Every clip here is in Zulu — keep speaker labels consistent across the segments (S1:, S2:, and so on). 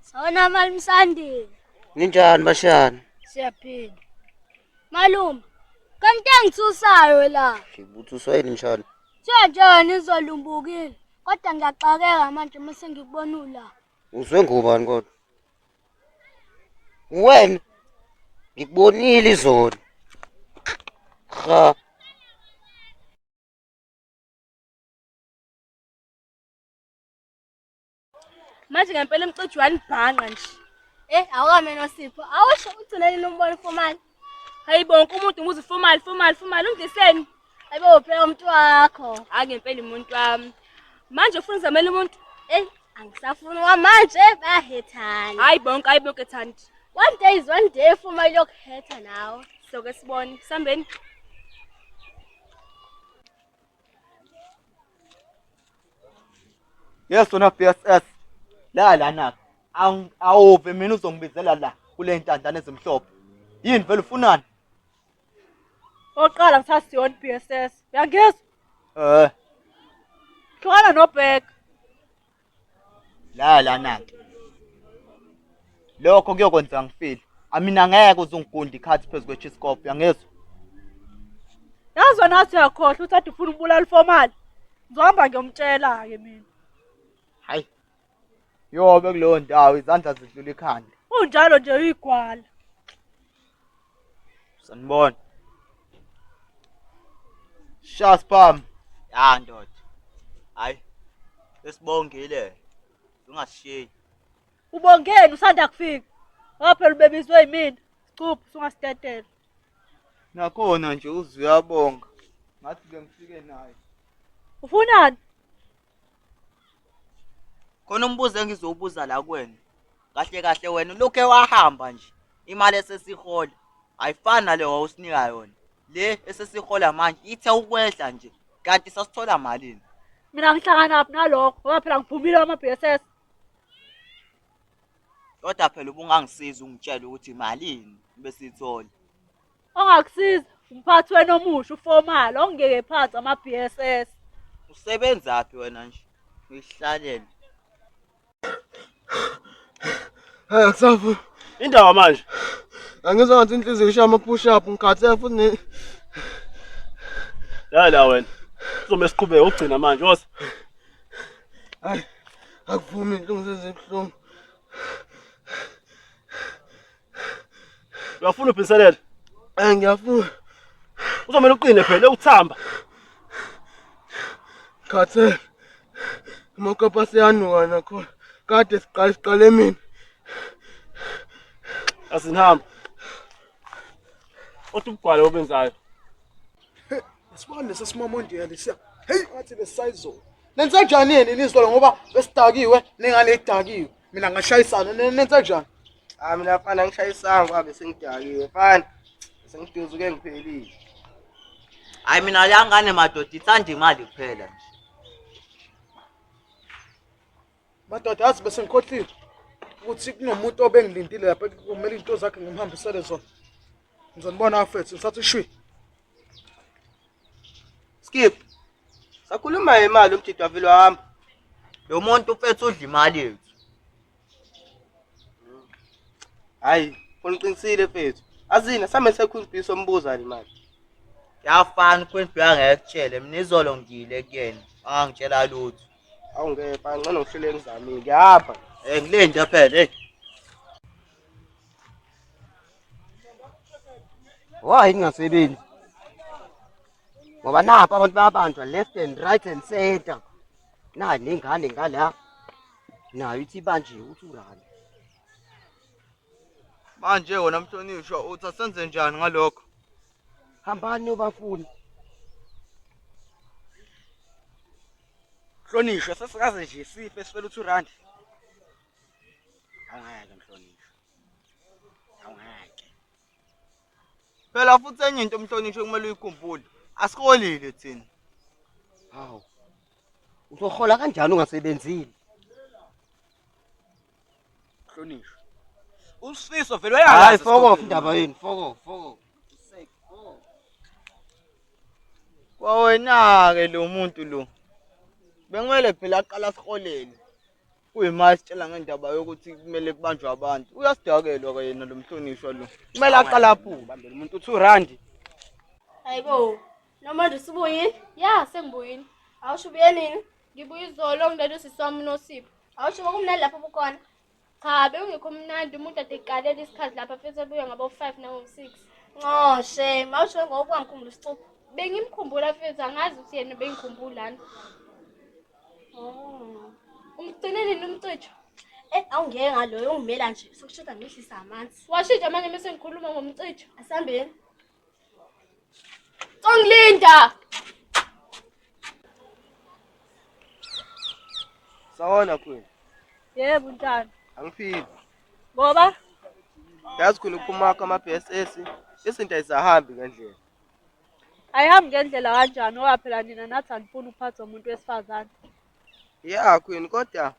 S1: Sawona mali msandile. Ninjani
S2: bashani? Siyaphila.
S1: Malume, kanti engithusayo la. Ngibuthuswa yini njani?
S2: Kuthiwa nje wena
S1: izolumbukile kodwa ngiyaxakeka manje uma sengikubona ula. Uzwe ngubani
S2: kodwa? Wena ngikubonile izolo. Cha.
S1: manje ngempela emcijo uyanibhanqa nje Eh awukame nosipho. Awusho ugcineni nombona formal. Hayibo wonke umuntu umuzi formal formal formal undiseni. Hayibo uphela umuntu wakho. Hayi ngempela umuntu wami. Manje ufuna zamela umuntu? Ey angisafuni wamanje bahethana. Hayi bonke hayi bonke thandi. One day is one day formal yokuhetha nawe. Soke sibone. Sambeni.
S3: Yes wena BSS. La lana. Awuve mina uzongibizela la kule ntandane ezimhlophe. Yini vele ufunani? Oqala
S1: ngithatha Sion BSS. Uyangizwa? Eh. Hlukana nobheka. laya
S3: lana-ke lokho kuyokwenza ngifile amina ngeke uze ungigunde ikhathi phezu kwechiscope uyangizwa yazi
S1: wena athi uyakhohlwa ukuthi ade ufuna ukubulala ufomali ngizohamba ngiyomtshela-ke mina hayi
S3: yobe kuleyo ndawo izandla zidlula ikhanda unjalo nje
S1: uyigwala
S3: Sanibona. Sha spam. Ya
S4: ndoda. Hayi. Esibongile. Ungashiyi.
S1: Ubongeni usanda kufika. Waphela ubebizwe yimina. Cuphu sungastetela.
S3: Nakhona nje uzuyabonga. Ngathi ke ngifike naye. Ufunani?
S4: khona umbuzo engizowubuza la kuwena kahle kahle wena ulokhu wahamba nje imali esesihola ayifani nale wawusinika yona le esesihola manje ithe ukwehla nje kanti sasithola malini mina ngihlakanaphi
S1: nalokho ngoba phela ngiphumile wama-b s s
S4: kodwa phela ubungangisiza ungitshele ukuthi malini besiyithola ongakusiza
S1: umphathi wena omusha ufomala ongeke phansi ama-bss usebenzaphi
S4: wena nje uyihlalele
S5: hayi akusafu indaba
S6: manje angizwa ngathi
S5: inhliziyo ishaya ama-push up ngikhathele futhi
S6: ne ya la wena uzomele siqhubeke ukugcina manje wosa
S5: hayi akuvumi inhlungu sezibuhlungu
S6: Uyafuna ubhinselela? Eh ngiyafuna. Uzomela uqine phela ukuthamba.
S5: Khathe. Mokapa siyanuka nakho. Kade siqala siqale mina.
S6: Asinihamba. Othi ubugwala obenzayo.
S5: Sibone sesimamondiyela lesiya. Hey, wathi lesayizona. Nenze njani yini nizolo ngoba besidakiwe nengane idakiwe. mina ngashayisana ne- nenze njani Ah mina mfana
S2: ngishayisanga kwabe sengidakiwe mfana. Sengiduzuke ngiphelile.
S4: hayi mina yangane madoda ithanda imali kuphela nje
S5: madoda yazi bese ngikhohlile ukuthi kunomuntu obengilindile lapha kumele into zakhe ngimhambisele zona ngizonibona afethu ngisathi shwi
S2: Skip. Sakhuluma ngemali umjidi wavele wahamba. Lo muntu
S4: ufethu udla imali yethu.
S2: Hayi, uliqinisile mfethu. Azina same sekhulu bhiso ombuza le mali. Yafana
S4: ukhulu bhiya ngekutshele mina izolo ngile kuyena. Angitshela lutho. Awungepha
S2: ngcono ngihlele ngizamile. Ngiyapha. Eh ngile nje phela
S4: hey.
S2: Why kungasebenzi? Ngoba napha abantu bayabanjwa left and right and center. Nayo nengane ngala. Nayo ithi banje uthi urani.
S3: Manje wona mhlonishwa uthi asenze njani ngalokho? Hambani
S2: nobafuni. Mhlonishwa
S7: sesikaze nje sife sifela uthi urandi. awungeke mhlonishwa awungeke
S3: phela futhi enye into umhlonishwa kumele uyikhumbule asiholile thina hawu
S2: uzohola kanjani ungasebenzile
S7: mhlonishwa usifiso vele hayi uyayazi foko esikhundleni. indaba yenu
S2: foko foko
S3: kwawena-ke lo muntu lo bekumele phela aqala siholele kuyima esitshela ngendaba yokuthi kumele kubanjwe abantu uyasidakelwa ke yena lo mhlonishwa lo kumele aqala aphume bambela umuntu uthi urandi
S7: hayibo
S1: noma nje usubuyile ya sengibuyile awusho ubuye nini ngibuye izolo ngilele usisi wami unosipho awusho bokumnandi lapho bukhona cha bewungekho mnandi umuntu ade kuqalela isikhathi lapha futhi ebuye ngabo-five nango-six ncoshe mawusho ngokuwangikhumbula isixupho bengimkhumbula futhi angazi ukuthi yena bengikhumbulani Oh. Umgcine nini umcijo? Eh awungeke ngaloyo ungimela nje sokushoda ngehlisa amanzi. Washintsha manje mase ngikhuluma ngomcijo. Asambeni. Congilinda.
S3: Sawona Queen. Yebo
S1: ntana. Angiphili.
S3: Ngoba yazi khona ukumakha ama BSS izinto ayisahambi ngendlela.
S1: ayihambi ngendlela kanjani ngoba phela nina nathi anifuni ukuphathwa umuntu wesifazane ya
S3: queen kodwa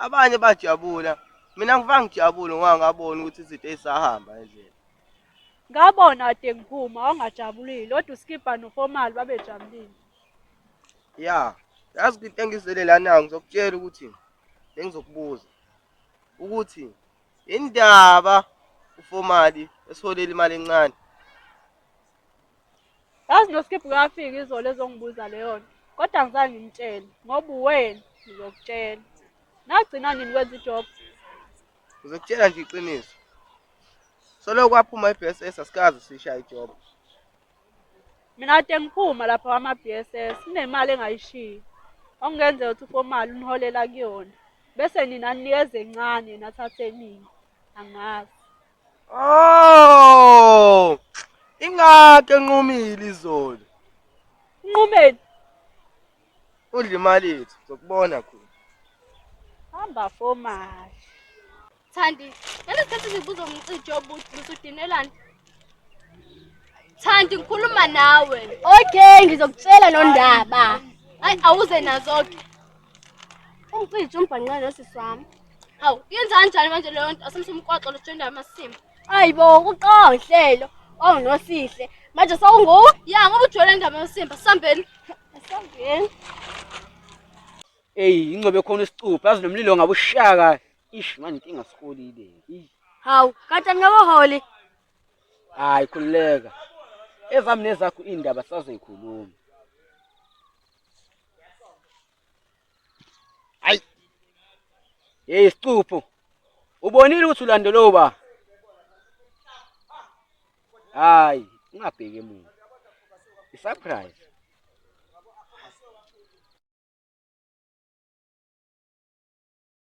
S3: abanye bajabula mina ngivanga ngijabule ngoba ngabona ukuthi izinto ezisahamba endlela ngabona
S1: kade ngiphuma wawungajabulile kodwa uskibha nofomali babejabulile
S3: ya yazi kwinto engizele lana ngizokutshela ukuthi bengizokubuza ukuthi Indaba uFomali esiholela imali encane.
S1: Yazi noSkip kafika izolo ezongibuza leyo nto. Kodwa ngizange ngimtshele ngoba uwena ngizokutshela. Nagcina nini kwenza ijob?
S3: Ngizokutshela nje iqiniso. Solo kwaphuma iBSS asikaze sishaye ijob.
S1: Mina kade ngiphuma lapha kwama-BSS kunemali engayishiyi okungenzeka ukuthi uFomali uniholela kuyona bese nina ninikeza encane nathathe eningi angazi oh
S3: ingakho enqumile izolo
S1: unqumeni
S3: udla imali yethu sokubona khona hamba
S1: Fomali Thandi, ngeke sikhathi ngibuza umcijo obuthi busudinelani. Thandi ngikhuluma nawe. Okay, ngizokutshela lo ndaba. Hayi awuze nazo ke. Umcijo umbhanqe nosisi wami. Hawu, yenza kanjani manje leyo nto asemsumkwaxo lojenda amasimo. Hayibo, uqonhlelo owunosihle. Manje sawungu? Ya ngoba ujwayele indaba yosimba sambeni. Sambeni.
S7: Eyi ingcobe khona isicuphe azi nomlilo ngabushaka Ish manje inkinga sikolile. Ey. Hawu,
S1: kanti angikaholi.
S7: Hayi khululeka. Ezami nezakho indaba sazoyikhuluma. Ay. Hey sicupho. Ubonile ukuthi ulandela uba? Hayi, ungabheki emuva. I surprise.